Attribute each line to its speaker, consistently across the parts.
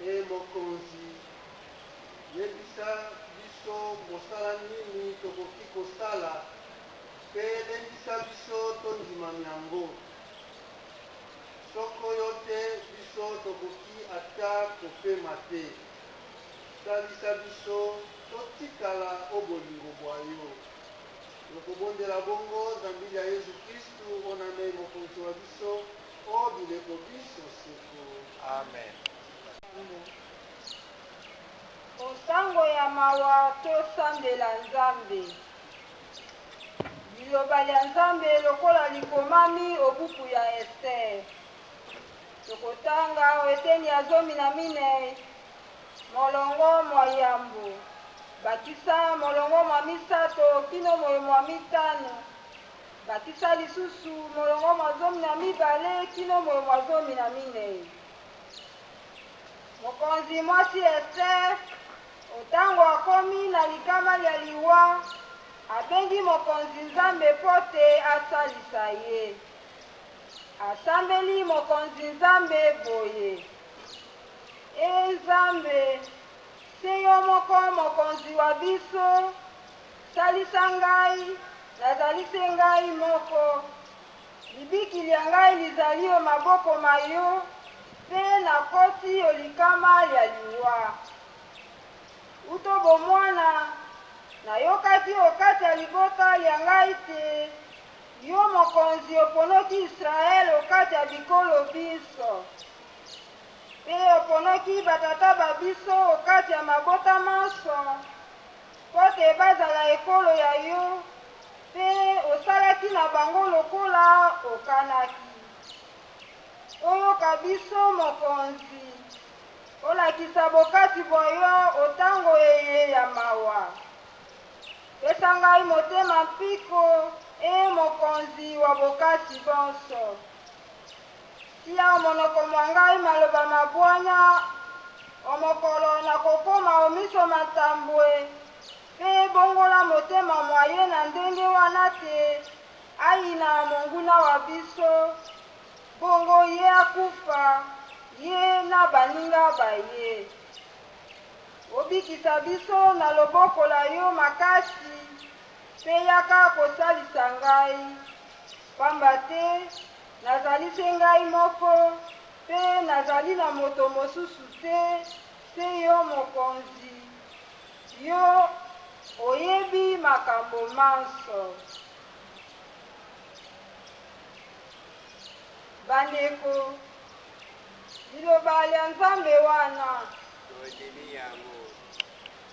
Speaker 1: Ee mokonzi, yebisa biso mosala nini tokoki kosala, mpe lendisa biso tondima myango. Soko yo te, biso tokoki ata kopema te. Salisa biso totikala o bolingo bwa yo. Tokobondela bongo zambi lya Yezu Kristu, onamei Mokonzi wa biso. O bileko biso seko. Amen.
Speaker 2: O ntango ya mawa tosambela Nzambe. Liloba lya Nzambe lokola likomami o buku ya Estere. Tokotanga o eteni ya zomi na minei molongo mwa yambo bakisa molongo mwa misato kino moye mwa mitano bakisa lisusu molongo mwa zomi na mibale kino molongo mwa zomi na minei mokonzi mwasi ester otango akomi na likama lya liwa abengi mokonzi nzambe mpo te asalisa ye asambeli mokonzi nzambe boye e nzambe se yo moko mokonzi wa biso Salisa ngai, nazali se ngai moko. Libiki lya ngai lizali o maboko ma yo, mpe nakosi o likama lya liwa. Uto bomwana, nayokaki o kati ya libota lya ngai te yo mokonzi oponoki Israele o kati ya bikolo binso, mpe oponoki batata ba biso o kati ya mabota manso. Mpo te bazala ekolo ya yo, mpe osalaki na bango lokola okanaki. Oyoka biso, Mokonzi, olakisa bokasi bwa yo o ntango eye ya mawa. Pesa ngai motema mpiko, e Mokonzi wa bokasi bonso. Tia o monoko mwa ngai maloba ma bwanya, o mokolo nakokoma o miso ma Ntambwe, mpe bongola motema mwa ye na ndenge wana te ayina monguna wa biso, bongo ye akufa, ye na baninga ba ye. Obikisa biso na loboko la yo makasi, mpe yaka kosalisa ngai, pamba te Nazali se ngai moko, mpe nazali na moto mosusu te, se yo mokonzi. Yo oyebi makambo manso. Bandeko, liloba lya Nzambe wana. Tondimi yango.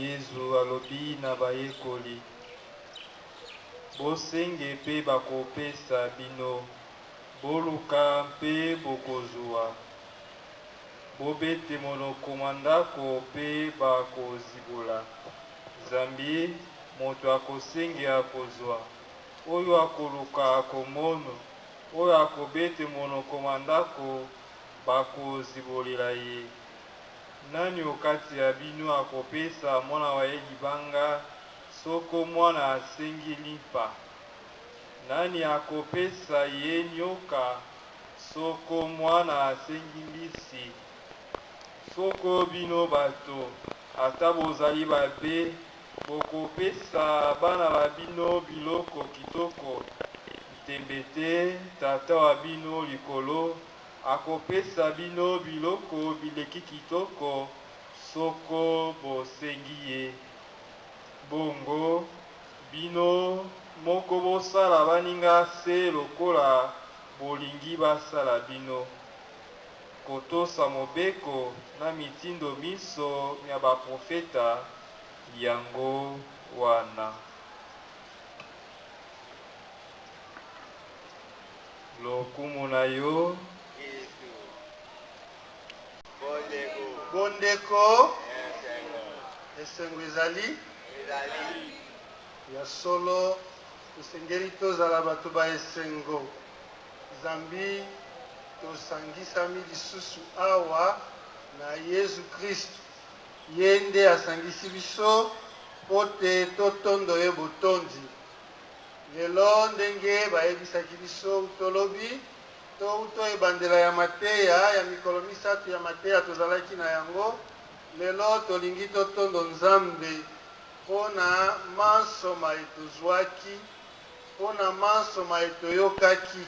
Speaker 3: Yezu alobi na bayekoli, Bosenge mpe bakopesa bino, boluka mpe bokozwa, bobete monoko mwa ndako mpe bakozibola. Zambi moto akosenge akozwa, oyo akoluka akomono, oyo akobete monoko mwa ndako Bakozibolela ye, Nani o kati ya bino akopesa mwana wa ye libanga soko mwana asengi limpa? Nani akopesa ye nyoka soko mwana asengi mbisi? Soko bino bato, ata bozali babe, bokopesa bana ba bino biloko kitoko, ntembe te Tata wa bino likolo Akopesa bino biloko bileki kitoko soko bosengi ye. Bongo bino moko bosala baninga se lokola bolingi basala bino. Kotosa mobeko na mitindo minso mya baprofeta yango wana. Lokumu na yo. Yesu.
Speaker 1: Bondeko. Bondeko. Esengo. Esengo ezali. Ezali. Ya solo tosengeli tozala bato ba esengo zambi tosangisami lisusu awa na yezu kristu ye nde asangisi biso mpo te totondo ye botondi Lelo, ndenge bayebisaki biso uto lobi, to uto ebandela ya mateya ya mikolo misato ya mateya tozalaki na yango, lelo tolingi totondo Nzambe mpo na manso maye tozwaki, mpo na manso maye toyokaki,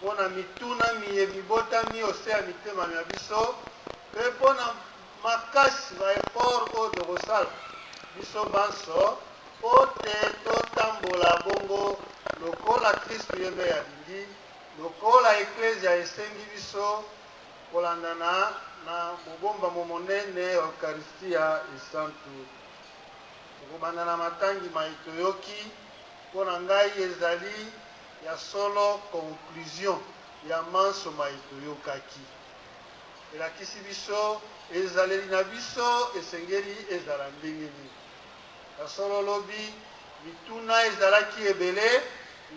Speaker 1: mpo na mituna miye mibotami ose ya mitema mya biso, mpe mpo na makasi ba efforts oyo tokosala biso banso mpo te totambola bongo lokola Kristu ye mei alingi, lokola Eklezia esengi biso, kolandana na mobombamo monene ya Ukaristia Esantu. Tokobanda na matangi maye toyoki, mpo na ngai ezali ya solo conclusion ya manso maye toyokaki. elakisi biso ezaleli na biso esengeli ezala ndenge nini. Ya solo lobi mituna ezalaki ebele,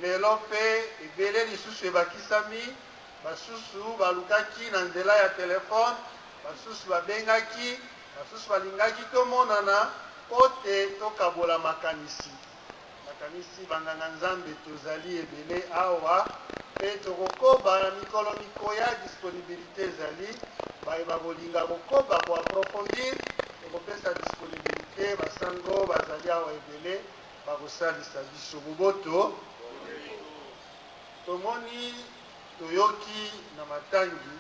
Speaker 1: lelo mpe ebele lisusu ebakisami. Basusu balukaki na nzela ya telefone, basusu babengaki, basusu balingaki tomonana mpo te tokabola makanisi. Nakanisi banganga-Nzambe tozali ebele awa mpe tokokoba na mikolo mikoya, disponibilite ezali. Baye bakolinga kokoba ko approfondir, tokopesa disponibilite. Basango bazali awa ebele, bakosalisa biso. Boboto tomoni toyoki na matangi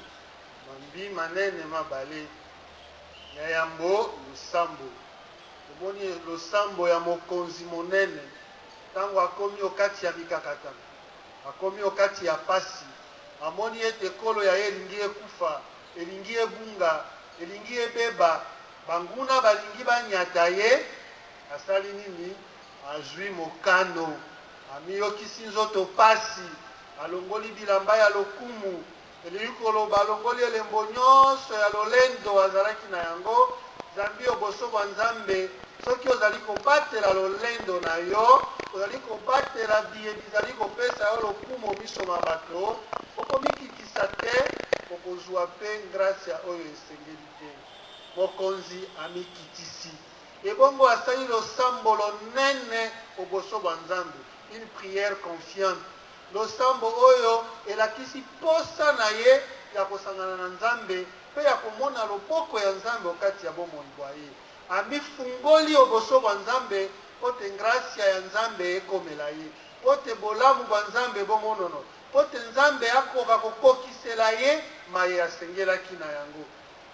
Speaker 1: mambi manene mabale ya yambo losambo Omoni losambo ya mokonzi monene, ntango akomi okati ya mikakatano, akomi okati ya pasi, amoni ete ekolo ya ye elingi ekufa, elingi ebunga, elingi ebeba, banguna balingi banyata ye, asali nini? Azwi mokano, amiyokisi nzoto pasi, alongoli bilamba ya lokumu, Elingi koloba alongoli elembo nyonso ya lolendo azalaki na yango zambi oboso bwa Nzambe. Soki ozali kobatela lolendo na yo, ozali kobatela biye bizali kopesa yo lokumo miso ma bato, okomikitisa te, okozwa mpe ngrasya oyo esengeli te. Mokonzi amikitisi, ebongo asali losambo lonene oboso bwa Nzambe, une prière confiante. Losambo oyo elakisi mposa na ye ya kosangana na Nzambe mpe ya komona loboko ya Nzambe o kati ya bomoi bwa ye. Amifungoli o boso bwa Nzambe mpo te ngrasya ya Nzambe ekomela ye, mpo te bolamu bwa Nzambe bomonono, mpo te Nzambe akoka kokokisela ye maye asengelaki na yango.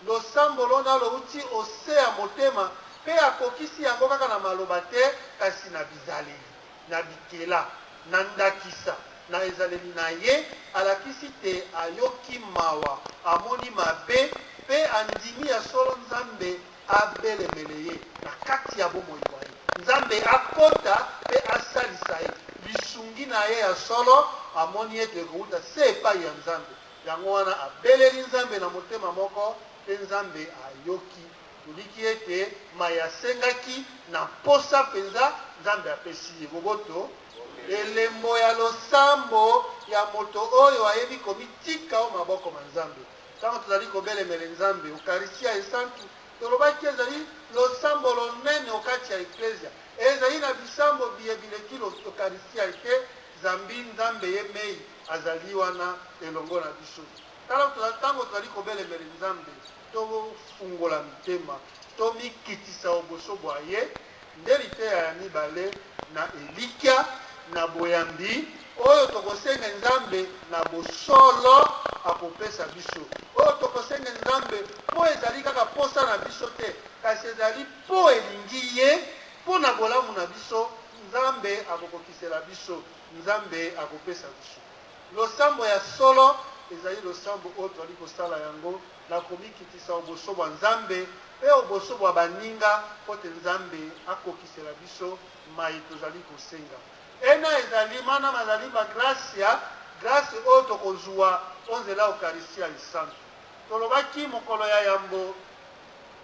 Speaker 1: Losambo lona louti o se ya motema mpe akokisi yango kaka na maloba te, kasi na bizaleli. Na bikela. Na ndakisa, na ezaleli na ye, alakisi te ayoki mawa, amoni mabe, mpe andimi ya solo Nzambe abelemele ye na kati ya bomoi bwa ye, Nzambe akota mpe asalisa ye. Lisungi na ye ya solo amoni ete ekouta se epai ya Nzambe, yango wana abeleli Nzambe na motema moko, mpe Nzambe ayoki. Toliki ete mai asengaki na mposa mpenza, Nzambe apesi ye boboto, elembo ya losambo ya moto oyo ayebi komitika o maboko ma Nzambe. Ntango tozali kobelemele Nzambe, Ukaristia Esantu, tolobaki ezali losambo lonene o kati ya Eklezia. Ezali na bisambo biye bileki Ukaristia te, zambi Nzambe ye mei azali wana elongo na biso. Tala ntango tozali kobelemele Nzambe. Tofungola mitema, tomikitisa o boso bwa ye, nde liteya ya mibale na elikya na boyambi oyo tokosenge Nzambe na bosolo akopesa biso, oyo tokosenge Nzambe mpo ezali kaka mposa na biso te, kasi ezali mpo elingi ye, mpo na bolamu na biso, Nzambe akokokisela biso, Nzambe akopesa biso. Losambo ya solo ezali losambo oyo tozali kosala yango na komikitisa oboso bwa Nzambe mpe oboso bwa baninga mpo te Nzambe akokisela biso maye tozali kosenga. Ena ezali mana mazali ma gracia, grasi oyo tokozuwa o nzela ya Ukaristiya Esantu. Tolobaki mokolo ya yambo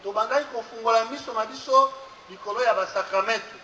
Speaker 1: tobandaki kofungola miso ma biso likolo ya basakramentu.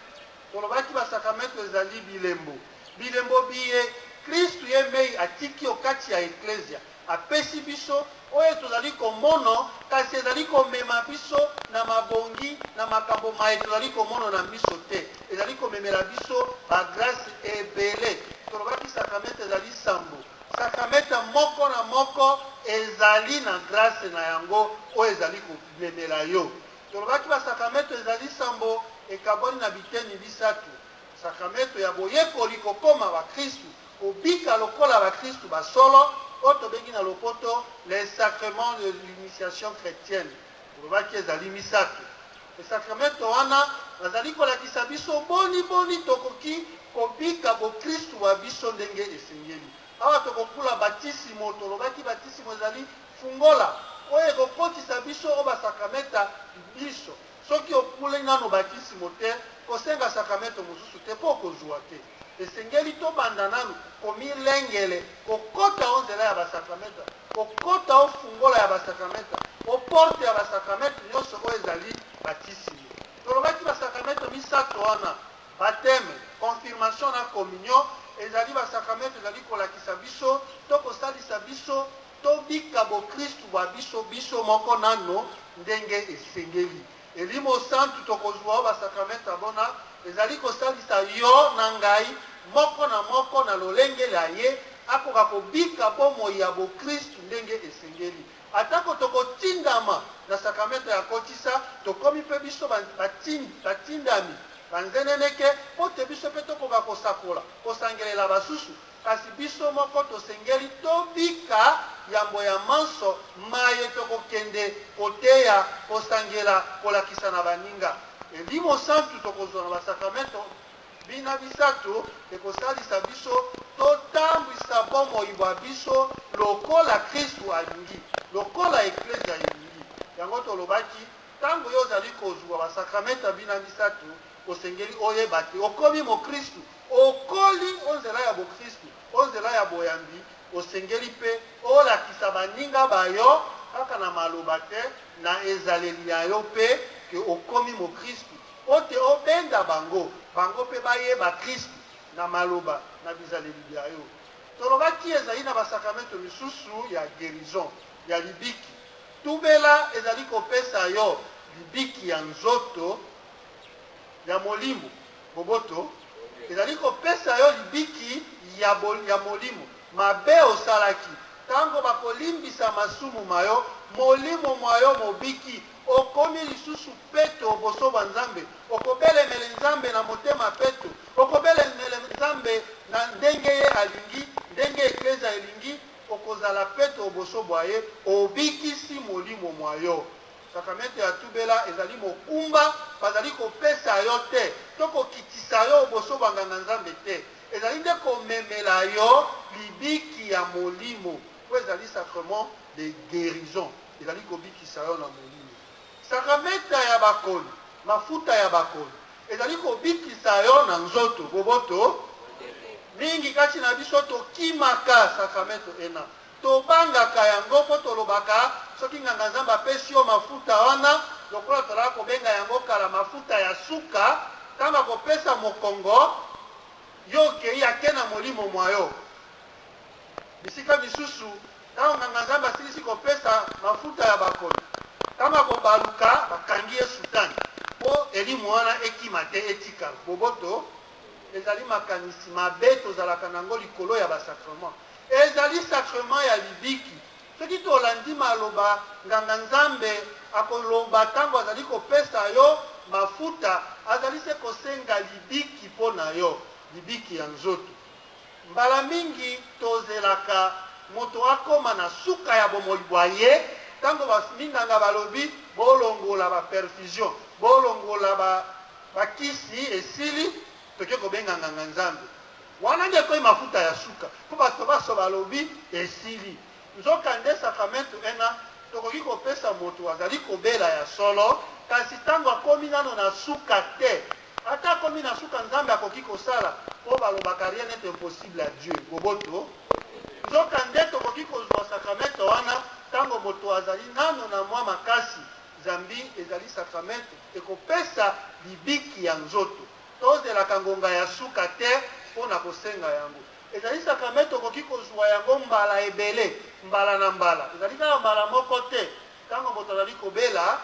Speaker 1: Tolobaki basakramentu ezali bilembo, bilembo biye Kristu ye mei atiki o kati ya Eklezia, apesi biso, oyo tozali komono, kasi ezali komema biso na mabongi, na makambo maye tozali komono na miso te. Ezali komemela biso ba grace ebele. Tolobaki sakramente ezali sambo. Sakramente moko na moko ezali na grace na yango oyo ezali komemela yo. Tolobaki basakramentu ezali nsambo ekabwani na biteni bisato, sakramentu ya boyekoli, kokoma bakristu, kobika lokola bakristu ba solo, oyo tobengi na lopoto le sacrement de l'initiation chretienne, tolobaki ezali misato. Mpe sakramentu wana bazali kolakisa biso boni boni tokoki kobika bokristu bwa biso ndenge esengeli. Awa tokokula batisimo, tolobaki batisimo ezali Fungola oyo ekokotisa biso o ba sakramenta binso. Soki okuli nanu batisimo te, kosenga sakramento mosusu te, mpo okozua te. Esengeli tobanda nanu komilengele kokota o nzela ya ba sakramenta, kokota o fungola ya ba sakramenta, o porte ya ba sakramento nionso oyo ezali batisimo. Tolobaki ba sakramento misato wana, bateme, konfirmation na komunio, ezali ba sakramento ezali kolakisa biso to kosalisa biso Tobika bokristu bwa biso biso moko nano ndenge esengeli. Elimo santu tokozua o basakramenta bona ezali kosalisa yo na ngai, moko na moko na lolenge lya ye, akoka kobika bomoi ya bokristu ndenge esengeli. Atako tokotindama na sakramenta ya kotisa, tokomi mpe biso batindami, banzeneneke, mpo te biso mpe tokoka kosakola, kosangelela basusu, Kasi biso moko tosengeli tobika yambo ya manso maye tokokende, koteya, kosangela, kolakisa na baninga. Elimo santu tokozwa na basakramento bina bisato ekosalisa biso totambwisa bomoi bwa biso lokola Kristu alingi, lokola Eklezia elingi. Yango tolobaki, ntango yo ozali kozwa basakramenta bina bisato, osengeli oyeba te okomi mokristu. Okoli o nzela ya bokristu, o nzela ya boyambi, osengeli mpe olakisa baninga ba yo, kaka na maloba te, na ezaleli ya yo mpe, ke okomi mokristu, mpo te obenda bango, bango mpe bayeba Kristu na maloba, na bizaleli bya yo. Tolobaki ezali na basakramentu misusu ya guerison, ya libiki. Tubela ezali kopesa yo libiki ya nzoto, ya molimo. Boboto ezali kopesa yo libiki ya, ya molimo. Mabe osalaki ntango bakolimbisa masumu ma yo, molimo mwa yo mobiki, okomi lisusu peto boso bwa Nzambe. Okobelemele Nzambe na motema peto, okobelemele Nzambe na ndenge ye alingi, ndenge eklezia elingi, okozala peto boso bwa ye, obikisi molimo mwa yo. Sakramentu ya tubela ezali mokumba bazali kopesa yo te to kokitisa yo oboso banganga Nzambe te, ezali nde komemela yo libiki ya molimo po ezali sacrement de guerison, ezali kobikisa yo na molimo. Sakramenta ya bakoni, mafuta ya bakoni ezali kobikisa yo na nzoto boboto. Mingi kati na biso tokimaka sakramento ena Tobangaka yango mpo tolobaka, Soki nganga-nzambe apesi yo mafuta wana, lokola tozalaka kobenga yango kala mafuta ya suka, ntango akopesa mokongo, yo okei ake na molimo mwa yo. Bisika misusu, ntango nganga-nzambe asilisi kopesa mafuta ya bakoni, ntango akobaluka, bakangi ye sutani mpo elimo wana ekima te, etikala. Boboto ezali makanisi mabe tozalaka na yango likolo ya ba-sacrement. Ezali sacrement ya libiki. Soki tolandi maloba nganga Nzambe akoloba tango azali kopesa yo mafuta, azali se kosenga libiki mpo na yo, libiki ya nzoto. Mbala mingi tozelaka moto akoma na suka ya bomoi bwa ye, tango ba minganga balobi bolongola ba perfusion, bolongola ba kisi esili, Toke kobenga nganga nzambe wana nde ekomi mafuta ya suka mpo bato baso balobi esili. Nzoka nde sakramentu ena tokoki kopesa moto azali kobela ya solo, kasi ntango akomi nano na suka te. Ata akomi na suka nzambe akoki kosala mpo balobaka rien n'est impossible à Dieu. Boboto. Nzoka nde tokoki kozwa sakramentu wana ntango moto azali nano na mwa makasi zambi ezali sakramentu ekopesa libiki ya nzoto. Tozelaka ngonga ya suka te mpo na kosenga yango. Ezali sakramente okoki kozua yango mbala ebele, mbala na mbala. Ezali kaka mbala moko te. Ntango moto azali kobela,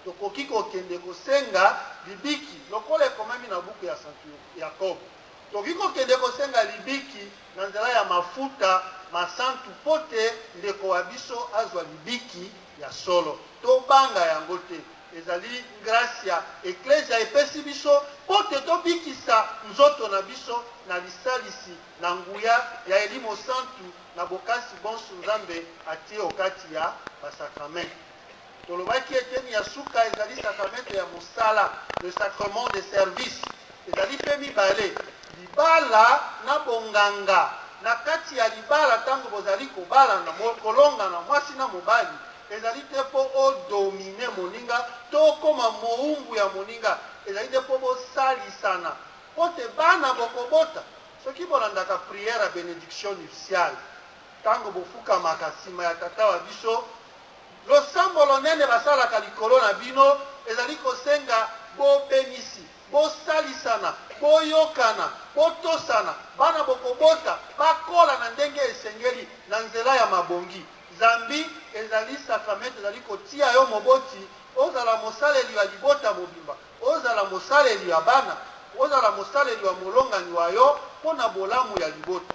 Speaker 1: tokoki kokende kosenga libiki, lokola ekomami na buku ya santu Yakobo. Tokoki kokende kosenga libiki na nzela ya mafuta masantu mpo te ndeko wa biso azwa libiki ya solo. Tobanga yango te. Ezali gracia Eklezia epesi biso mpo te tobikisa nzoto na biso na lisalisi na nguya ya Elimo Santu na bokasi bonso Nzambe atie o kati ya basakramente. Tolobaki eteni ya suka ezali sakramente ya mosala, le sacrement de service. Ezali mpe mibale, libala na bonganga. Na kati ya libala, ntango bozali kobalana, kolongana, mwasi na mobali, Ezali te mpo o dominer moninga to okoma mowumbu ya moninga. Ezali nde mpo bosalisana mpo te bana bokobota. Soki bolandaka prière ya benediction nuptiale tango bofukamaka sima ya Tata wa biso, losambo lonene basalaka likolo na bino ezali kosenga bobenisi, bosalisana, boyokana, botosana. Bana bokobota bakola na ndenge esengeli na nzela ya mabongi. Zambi ezali sakramente ezali kotia yo moboti ozala mosaleli wa libota mobimba, ozala mosaleli wa bana, ozala mosaleli wa molongani wa yo mpo na bolamu ya libota.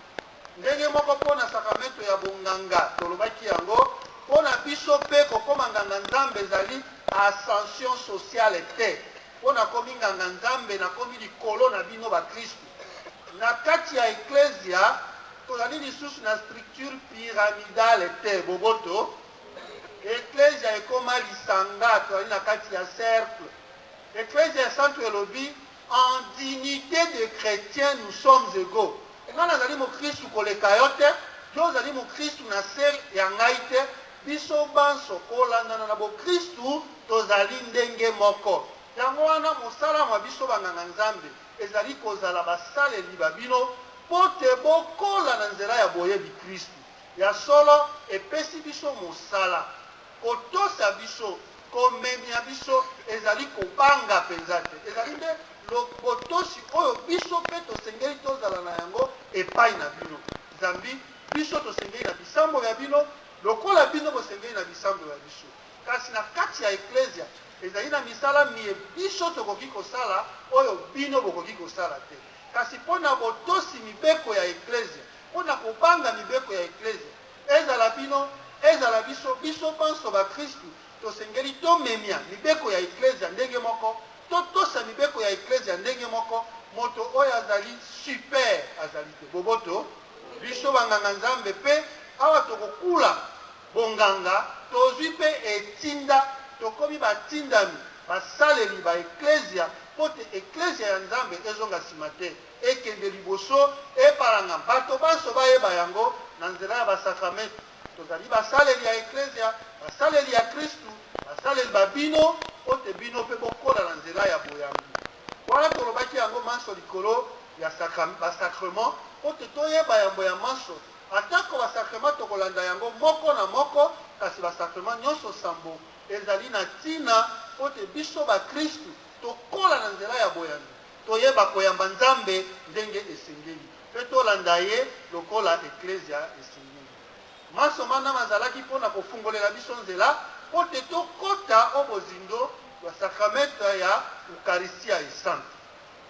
Speaker 1: Ndenge moko mpo na sakramento ya bonganga, tolobaki yango, mpo na biso mpe kokoma nganga-nzambe ezali ascension sociale te, mpo nakomi nganga-nzambe nakomi likolo na bino bakristu. Na kati ya Eklezia, tozali lisusu na structure pyramidale te, boboto. Eklezia ekoma lisanga, tozali na kati ya cercle. Eklezia ya Santu elobi, en dignite de chretien nous sommes ego. Nga nazali mokristu koleka yo te, yo ozali mokristu na se ya ngai te, biso banso kolandana na bokristu tozali ndenge moko. Yango wana mosala mwa biso banganga Nzambe, Ezali kozala basaleli ba bino mpo te bokola na nzela ya boyebi Kristu. Ya solo, epesi biso mosala. Kotosa biso, komemia biso, ezali kobanga mpenza te. Ezali nde lo, botosi oyo biso mpe tosengeli tozala na yango epai na bino. Zambi biso tosengeli na bisambo bya bino, lokola bino bosengeli na bisambo bya biso. Kasi na kati ya Eklezia, ezali na misala miye biso tokoki kosala oyo bino bokoki kosala te. Kasi mpo na botosi mibeko ya Eklezia, mpo na kobanga mibeko ya Eklezia, ezala bino, ezala biso, biso banso bakristu, tosengeli tomemia mibeko ya Eklezia ndenge moko, totosa mibeko ya Eklezia ndenge moko, moto oyo azali super azali te. Boboto, biso banganga Nzambe mpe awa tokokula, Bonganga, Tozwi mpe etinda, tokomi batindami, basaleli ba Eklezia, mpo te Eklezia ya Nzambe ezonga nsima te, ekende liboso, epalangama, bato banso bayeba yango na nzela ya basakramentu. Tozali basaleli ya Eklezia, basaleli ya Kristu, basaleli ba bino, mpo te bino mpe bokola na nzela ya boyambi. Wana tolobaki yango manso likolo ya sacra, ba sacrements, mpo te toyeba yambo ya manso, Atako basakrema tokolanda yango moko na moko, kasi basakrema nyonso nsambo ezali na ntina mpo te biso bakristu tokola na nzela ya boyambi, toyeba koyamba Nzambe ndenge esengeli, mpe tolanda ye lokola Eklezia esengeli. Manso mana mazalaki mpo na kofungolela biso nzela mpo te tokota o bozindo bwa sakramente ya Ukaristya Esantu.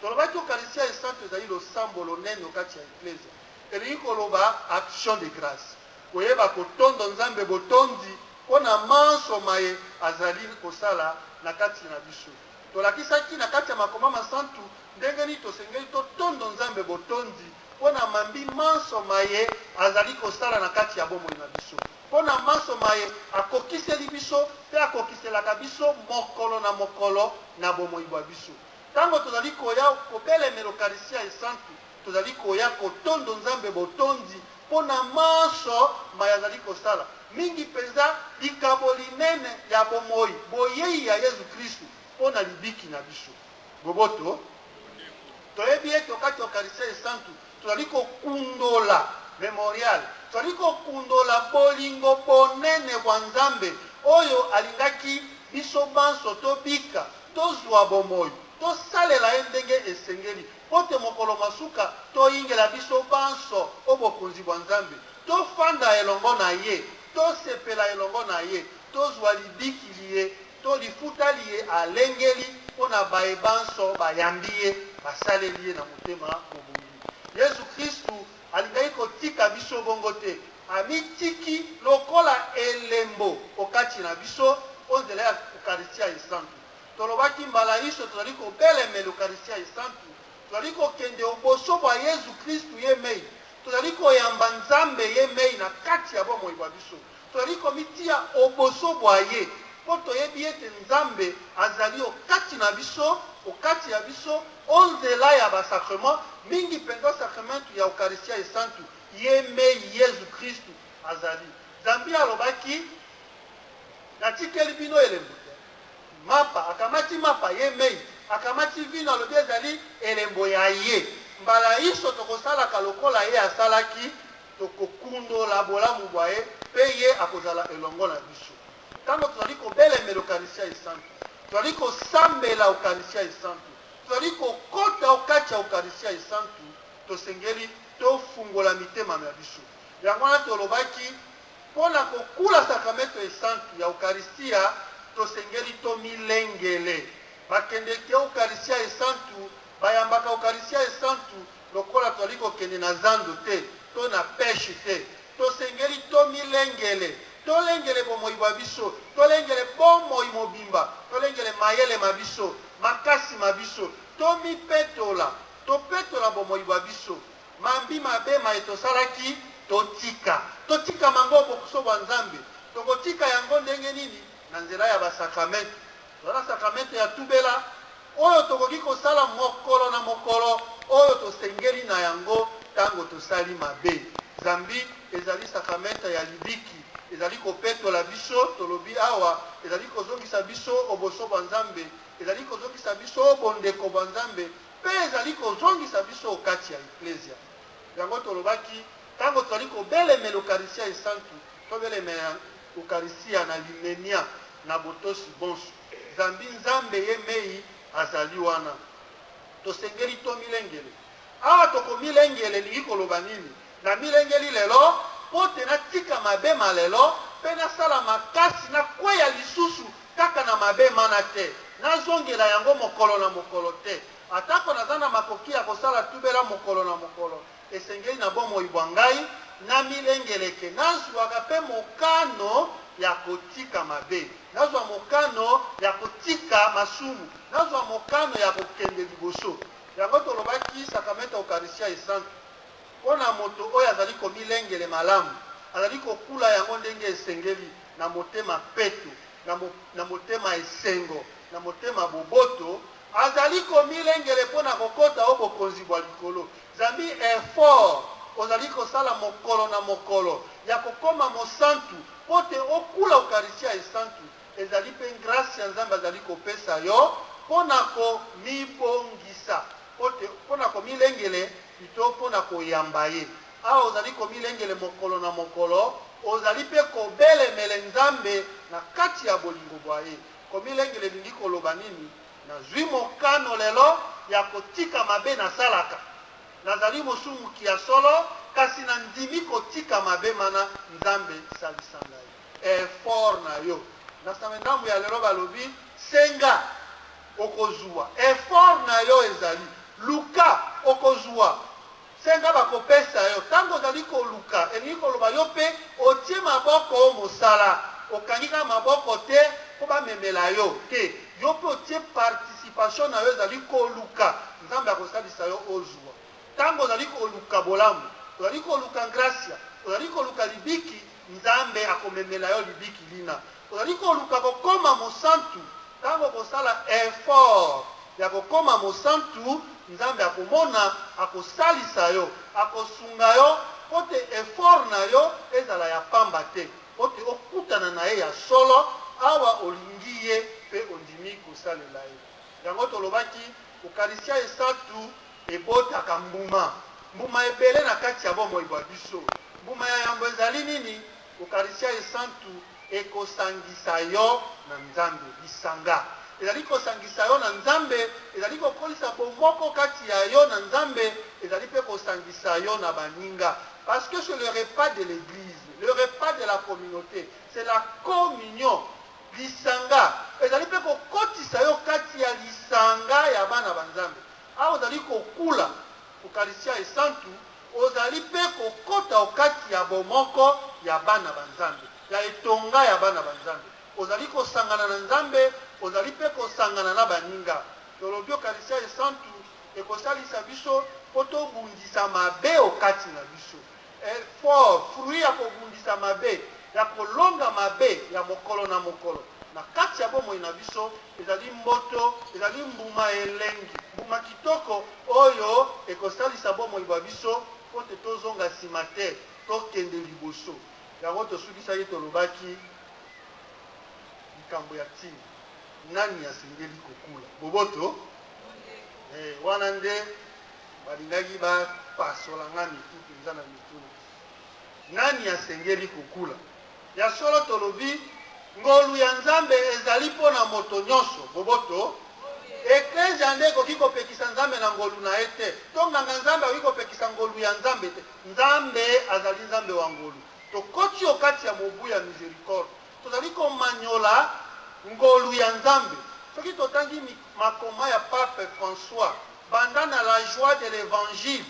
Speaker 1: Tolobaki Ukaristya Esantu ezali losambo lonene o kati ya Eklezia. Elingi koloba action de grace, koyeba kotondo Nzambe botondi mpo na manso maye azali kosala na kati na biso. Tolakisaki na kati ya makoma masantu ndenge nini tosengeli totondo Nzambe botondi mpo na mambi manso maye azali kosala na kati ya bomoi na biso, mpo na manso maye akokiseli biso mpe akokiselaka biso mokolo na mokolo na bomoi bwa biso. Ntango tozali koya kobelemela Ukaristya Esantu, Tozali koya kotondo Nzambe botondi mpo na manso maye azali kosala, mingi mpenza likabo linene ya bomoi, boyei ya Yezu Kristu mpo na libiki na biso. Boboto, toyebi ete o kati ya Ukaristya Esantu tozali kokundola Memorial, tozali kokundola bolingo bonene bwa Nzambe oyo alingaki biso banso tobika, tozwa bomoi, tosalela ye ndenge esengeli. mpo te mokolo mwa suka toyingela biso banso o bokonzi bwa Nzambe, tofanda elongo na ye, tosepela elongo na ye, tozwa libiki liye to lifuta liye alengeli mpo na baye banso bayambi ye, basaleli ye na motema mobongi. Yezu Kristu alingaki kotika biso bongo te, amitiki lokola elembo o kati na biso o nzela ya Ukaristia Esantu. Tolobaki mbala inso tozali kobelemela Ukaristya Esantu, tozali kokende o boso bwa Yezu Kristu ye mei, tozali koyamba Nzambe ye mei na kati ya bomoi bwa biso, tozali komitiya o boso bwa ye, mpo toyebi ete Nzambe azali o kati na biso, o kati ya biso, o nzela ya ba sacrements, mingi mpenza Sakramentu ya Ukaristya Esantu ye mei, Yezu Kristu azali. Zambi alobaki, Natikeli bino elembo. Mapa akamati mapa ye mei akamati vino, alobi ezali elembo ya ye. Mbala inso tokosalaka lokola ye asalaki, tokokundola bolamu bwa ye, mpe ye akozala elongo na biso. Ntango tozali kobelemela Ukaristia Esantu, tozali kosambela Ukaristia Esantu, tozali kokota o kati ya Ukaristia Esantu, tosengeli tofungola mitema mya biso. Yango wana tolobaki Mpo na kokula Sakramento Esantu ya Ukaristia, tosengeli tomilengele. Bakendeke Ukaristia Esantu bayambaka Ukaristia Esantu lokola tozali kokende na zando te to na peche te. Tosengeli tomilengele, tolengele bomoi bwa biso, tolengele bomoi mobimba, tolengele mayele ma biso, makasi ma biso, tomipetola, topetola bomoi bwa biso. Mambi mabe maye tosalaki, totika. Totika mango bokuso bwa Nzambe. Tokotika yango ndenge nini? Na nzela ya basakramentu. Tozala sakramentu ya tubela oyo tokoki kosala mokolo na mokolo, oyo tosengeli na yango ntango tosali mabe. Zambi ezali sakramente ya libiki ezali kopetola biso tolobi awa ezali kozongisa biso oboso bwa nzambe ezali kozongisa biso bondeko bwa nzambe mpe ezali kozongisa biso o kati ya Eklezia. Yango tolobaki, ntango tozali kobelemela Ukaristya Esantu, tobelemela Ukaristya na limemia, na botosi bonso, zambi Nzambe ye mei azali wana. Tosengeli tomilengele. Awa tokomilengele elingi koloba nini? Namilengeli lelo mpo te natika mabe ma lelo mpe nasala makasi nakweya lisusu Kaka na mabe mana te. Nazongela yango mokolo na mokolo te. Atako naza na makoki ya kosala tubela mokolo na mokolo, esengeli na bomoi bwa ngai namilengeleke, nazwaka mpe mokano ya kotika mabe, nazwa mokano ya kotika masumu, nazwa mokano ya kokende liboso. Yango tolobaki Sakramento ya Ukaristya Esantu. Mpo na moto oyo azali komilengele malamu, azali kokula yango ndenge esengeli, na motema peto, na mo, na motema esengo, na motema boboto, azali komilengele mpo na kokota o bokonzi bwa likolo. Zambi effort ozali kosala mokolo na mokolo ya kokoma mosantu mpo te okula Ukaristya esantu, ezali mpe ngrasi ya Nzambe azali kopesa yo mpo na komibongisa, mpo te, mpo na komilengele. Pito mpo na koyamba ye. Awa ozali komilengele mokolo na mokolo, ozali mpe kobelemele Nzambe na kati ya bolingo bwa ye. Komilengele elingi koloba nini? Nazwi mokano lelo ya kotika mabe nasalaka. Nazali mosumuki ya solo, kasi nandimi kotika mabe mana. Nzambe, salisa ngai. Effort na yo. Na Same ndambo ya lelo balobi, Senga. okozua effort na yo ezali luka okozua senga bakopesa yo ntango ozali koluka elingi koloba yo mpe otie maboko o mosala okangi kaka maboko te mpo bamemela yo te yo mpe otie participation na yo ezali koluka nzambe akosalisa yo ozua ntango ozali koluka bolamu ozali koluka gracia ozali koluka libiki Nzambe akomemela yo libiki lina. Ozali koluka kokoma mosantu? Ntango okosala effort ya kokoma mosantu, Nzambe akomona, akosalisa yo, akosunga yo mpo te effort na yo ezala ya pamba te, mpo te okutana na Ye ya solo awa olingi Ye mpe ondimi kosalela Ye. Yango tolobaki, Ukaristya Esantu. Ebotaka mbuma. Mbuma ebele na kati ya bomoi bwa biso. Mbuma ya yambo ezali nini? Ukaristya Esantu ekosangisa yo na Nzambe. Lisanga ezali kosangisa yo na Nzambe, ezali kokolisa bomoko kati ya yo na Nzambe, ezali mpe kosangisa yo na baninga. Parce que c'est le repas de l'église, le repas de la communauté, c'est la communion. Lisanga ezali mpe kokotisa yo kati ya lisanga ya bana ba Nzambe. Awa ozali kokula Ukaristya Esantu, ozali mpe kokota o kati ya bomoko ya bana ba Nzambe, ya etonga ya bana ba Nzambe. Ozali kosangana na Nzambe, ozali mpe kosangana na baninga. Tolobi Ukaristya Esantu ekosalisa biso mpo tobundisa mabe o kati na biso. Effort, fruit ya kobundisa mabe, ya kolonga mabe ya mokolo na mokolo na kati ya bomoi na biso, ezali mboto, ezali mbuma elengi, mbuma kitoko oyo ekosalisa bomoi bwa biso mpo te tozonga nsima te, tokende liboso. Yango tosukisaki tolobaki likambo ya ntina, nani asengeli kokula? Boboto? Eh, wana nde balingaki bapasola ngai mitu mpenza na mituna nani asengeli kokula ya solo tolobi ngolu ya nzambe ezali mpo na moto nyonso boboto eklezia nde ekoki kopekisa nzambe na ngolu na ye te to nganga nzambe akoki kopekisa ngolu ya nzambe te nzambe azali nzambe wa ngolu tokoti okati ya mobu ya misericorde Tozali komanyola ngolu ya Nzambe. Soki totangi makoma ya Pape François, banda na La joie de l'Evangile,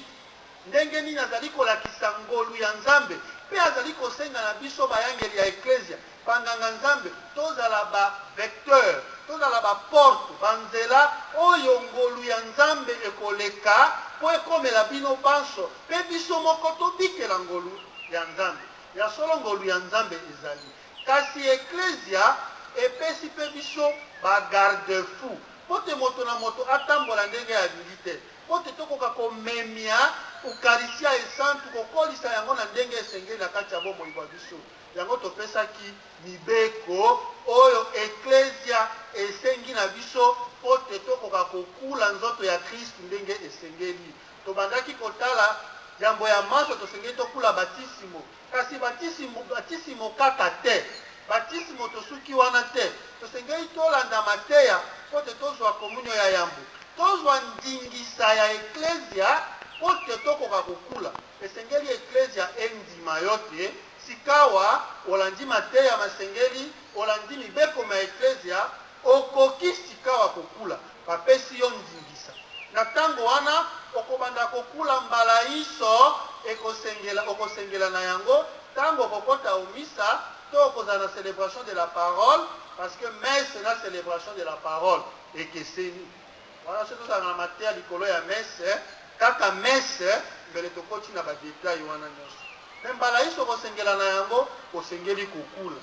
Speaker 1: ndenge nini azali kolakisa ngolu ya Nzambe mpe azali kosenga na biso bayangeli ya Eklezia, banganga-Nzambe, tozala ba vecteur, tozala ba porte, banzela oyo ngolu ya Nzambe ekoleka mpo ekomela bino banso mpe biso moko tobikela ngolu ya Nzambe. Ya solo, ngolu ya Nzambe ezali. Kasi Eklezia epesi mpe biso ba garde-fous mpo te moto na moto atambola ndenge alingi te, mpo te tokoka komemya Ukaristya Esantu, kokolisa yango na ndenge esengeli na kati ya bomoi bwa biso. Yango topesaki mibeko oyo Eklezia esengi na biso mpo te tokoka kokula nzoto ya Kristu ndenge esengeli. Tobandaki kotala yambo ya manso tosengeli tokula batisimo. Kasi batisimo, batisimo kaka te. Batisimo tosuki wana te. Tosengeli tolanda mateya mpo te tozwa komunio ya yambo. Tozwa ndingisa ya eklezia mpo te tokoka kokula. Esengeli eklezia endima yo te sikawa olandi mateya masengeli, olandi mibeko mya eklezia, Okoki sikawa kokula. Bapesi yo ndingisa. Na ntango wana, okobanda kokula mbala inso ekosengela, okosengela na yango, ntango okokota o misa, to okozala na celebration de la parole, parce que messe na celebration de la parole ekeseni. Wana soki tozalaka na mateya likolo ya messe, kaka messe, mbele tokoti na ba details wana nyonso. Mais mbala inso okosengela na yango, osengeli kokula.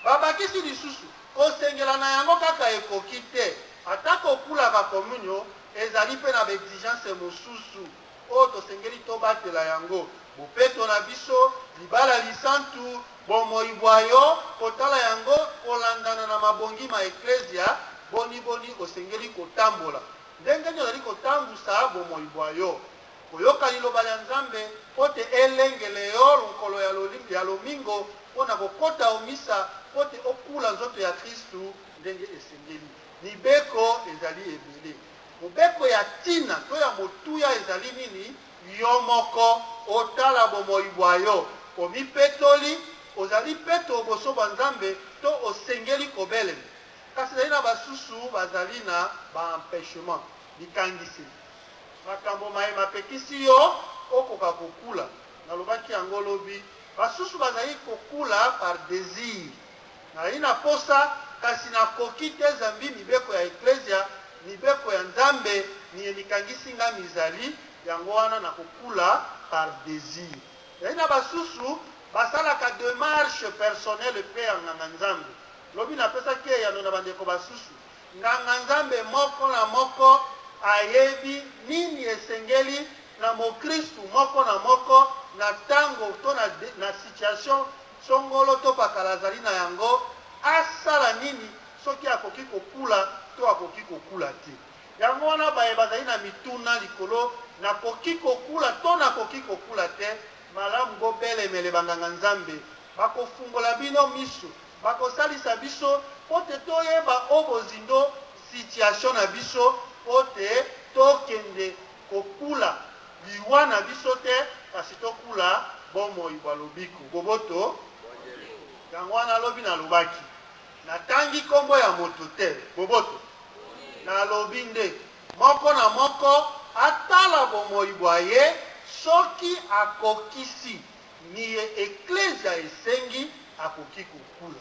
Speaker 1: Babakisi lisusu, Kosengela na yango kaka ekoki te, ata kokula ba komunyo ezali mpe na ba exigences mosusu oyo tosengeli tobatela yango, bopeto na biso, libala lisantu, bomoi bwa yo, kotala yango kolandana na mabongi ma Eklezia, boniboni osengeli kotambola, ndenge nini ozali kotambusa bomoi bwa yo. Koyoka Liloba lya Nzambe mpo te elengele yo lonkolo ya loli, ya lomingo mpo na kokota o misa mpo te okula nzoto ya Kristu ndenge esengeli. Mibeko ezali ebele. Mobeko ya ntina to ya motuya ezali nini? Yo moko otala bomoi bwa yo. Omipetoli? Ozali peto o boso bwa Nzambe to osengeli kobelema? Kasi ezali na basusu bazali na ba empechement, bikangiseli. Makambo maye mapekisi yo okoka kokula. Nalobaki yango lobi. Basusu bazali kokula par desir. Nazali na posa, kasi nakoki te zambi mibeko ya Eklezia, mibeko ya Nzambe miye mikangisi ngai mizali, yango wana nakokula par desir. Ezali na basusu basalaka demarche personnelle mpe ya nganga Nzambe. Lobi napesaki eyano na bandeko basusu. Nganga-nzambe moko na moko ayebi nini esengeli na mokristu moko na moko na tango to na na situation songolo to pakala azali na yango, asala nini soki akoki kokula to akoki kokula te. Yango wana baye bazali na mituna likolo nakoki kokula to nakoki kokula te, malamu bobelemele banganga-nzambe. bakofungola bino misu bakosalisa biso mpo te toyeba o bozindo situation na biso mpo te tokende kokula liwa na biso te kasi tokula bomoi bwa lobiko boboto yango wana lobi nalobaki natangi nkombo ya moto te boboto nalobi nde moko na moko atala bomoi bwa ye soki akokisi Miye Eklezia esengi akoki kokula.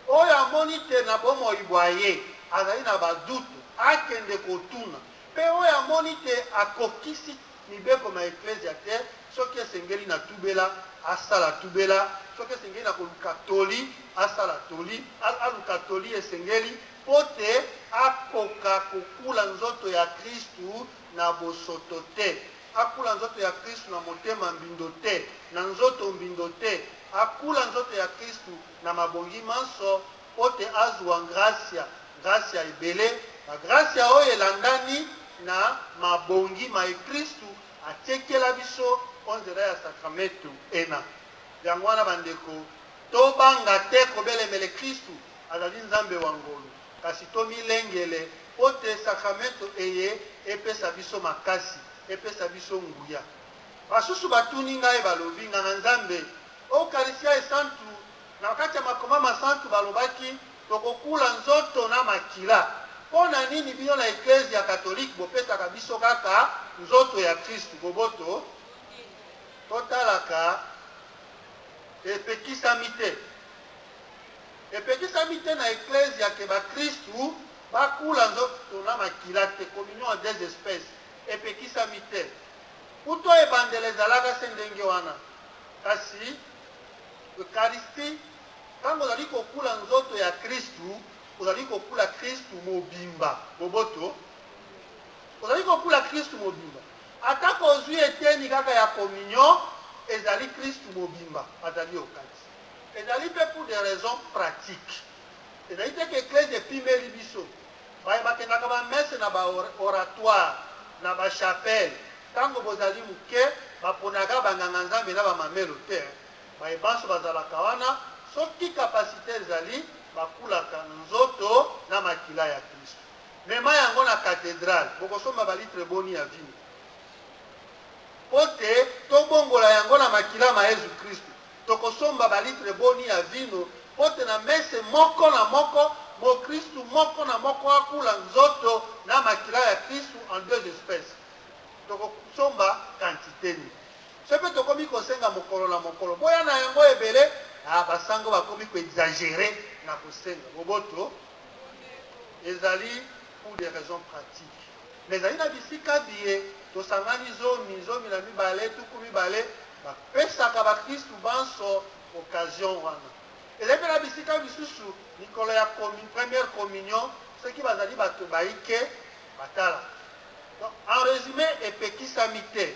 Speaker 1: Oyo amoni te na bomoi bwa ye azali na ba doute, akende kotuna. Mpe oyo amoni te akokisi mibeko mya Eklezia te, soki esengeli na tubela, asala tubela, soki esengeli na koluka toli, asala toli, aluka toli esengeli mpo te akoka kokula nzoto ya Kristu. na bosoto te, akula nzoto ya Kristu na motema mbindo te, na nzoto mbindo te, akula nzoto ya Kristu na mabongi manso, mpo te azua ngrasya, ngrasya ebele na grasya oyo elandani na mabongi maye Kristu atiekela biso o nzela ya sakramentu ena. Yango wana, bandeko, tobanga te kobelemele Kristu, azali Nzambe wa ngolu. Kasi tomilengele, mpo te sakramento eye epesa biso makasi, epesa biso nguya. Basusu batuni ngai, balobi, Nganga-Nzambe, o Ukaristya Esantu, na kati ya Makoma Masantu balobaki tokokula nzoto na makila, mpo na nini bino na Eklezia Katolike bopesaka biso kaka nzoto ya Kristu? Boboto totalaka epekisami te. Epekisami te na Eklezia ke bakristu bakula nzoto na makila te, communion en deux espèces, epekisami te. Ut'o ebandela ezalaka se ndenge wana. Kasi Eucharistie, tango ozali kokula nzoto ya Kristu, ozali kokula Kristu mobimba. Boboto? Ozali kokula Kristu mobimba. Atako ozwi eteni kaka ya communion, ezali Kristu mobimba azali okati. Ezali mpe pour des raisons pratiques. Ezali te que Eklezia epimeli biso. Baye bakendaka ba messe na ba oratoire, na ba chapelle, tango bozali moke, baponaka ba nganga-Nzambe na ba mamelo te. Baye banso bazalaka wana, soki capacite ezali, bakulaka nzoto na makila ya Klisto. Mema yango na cathedrale, bokosomba ba litre boni ya vino? Mpo te tobongola yango na makila ma Yezu Klisto. Tokosomba balitre boni ya vino mpo te na mese moko na moko, mokristu moko na moko akula nzoto na makila ya Kristu en deux espèces? Tokosomba quantite nini? Soki mpe tokomi kosenga mokolo na mokolo, boya na yango ebele, ah basango bakomi ko exagerer na kosenga. Boboto ezali pour des raisons pratiques. Na ezali na bisika biye tosangani zomi, zomi na mibale, tuku mibale, bapesaka bakristu banso occasion wana. Ezali mpe na bisika misusu mikolo ya komi, première communion soki bazali bato baike batala. Donc, en résumé epekisami te.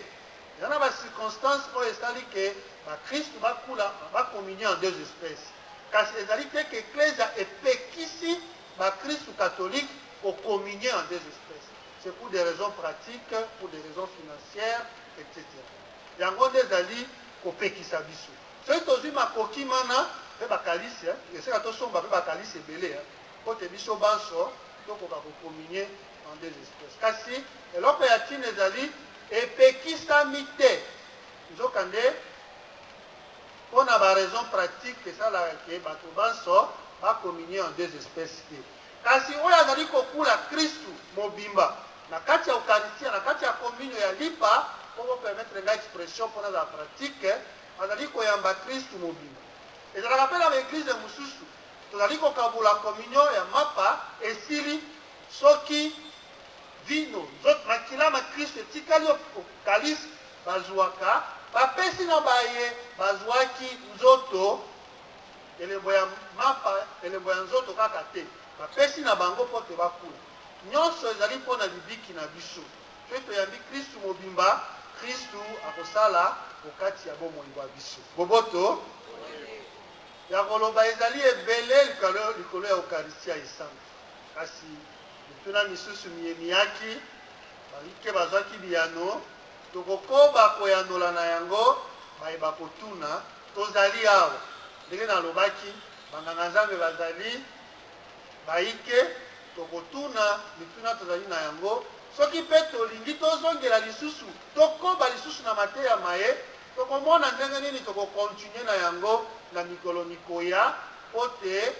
Speaker 1: Eza na ba circonstances oyo esali ke bakristu bakula bacommunie en deux espèces, kasi ezali te ke eklezia epekisi bakristu catholique ko communier en deux espèces c'est pour des raisons pratiques pour des raisons financières etc yango nde ezali kopekisa biso soki tozwi makoki mana mpe bakalisi esika tosomba mpe bakalisi ebele mpo te biso banso tokoka kokominie en deux espèces kasi eloko ya ntina ezali epekisami te nzokande Mpo na ba raisons pratiques, esalaka que bato banso ba communier en deux espèces te. Kasi oyo azali kokula Kristu mobimba na kati ya Ukaristia, na kati ya Komunio ya Lipa, mpo bo permettre ngai expression mpo nazala pratique, azali koyamba Kristu mobimba. Ezalaka mpe na ba eglises mosusu, tozali kokabola Komunio ya Mapa, esili soki vino, nzoto, makila ma Kristu etikali o kalisi, bazuaka, bapesi na baye bazuaki nzoto, elembo ya mapa, elembo ya nzoto kaka te, bapesi na bango mpo te bakula. Nyonso ezali mpo na libiki na biso, mpe toyambi Kristu mobimba, Kristu akosala o kati ya bomoi bwa biso. Boboto ya koloba ezali ebele likolo, likolo ya Ukaristia esantu, kasi mituna misusu miye miyaki, bayike bazwaki biyano. Tokokoba koyanola na yango. Baye bakotuna, tozali awa. Ndenge nalobaki, banganga-nzambe bazali baike. Tokotuna mituna tozali na yango. Soki mpe tolingi tozongela lisusu, tokoba lisusu na mateya maye, tokomona ndenge nini tokokontinue na yango na mikolo mikoya mpo te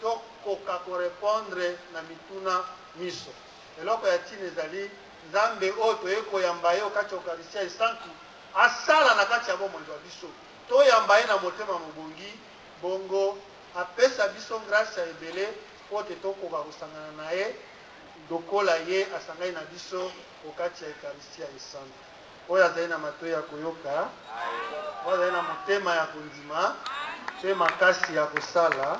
Speaker 1: tokoka korepondre na mituna minso. Eloko ya ntina ezali Nzambe oyo toye koyamba ye okati ya Ukaristya esantu asala na kati ya bomoi bwa biso, toyamba ye na motema mobongi, bongo apesa biso ngrasya ebele mpo te tokoka kosangana na ye lokola ye asangani na biso okati ya Ukaristya esantu. Oyo azali na matoi ya koyoka, oyo azali na motema ya kondima mpe makasi ya kosala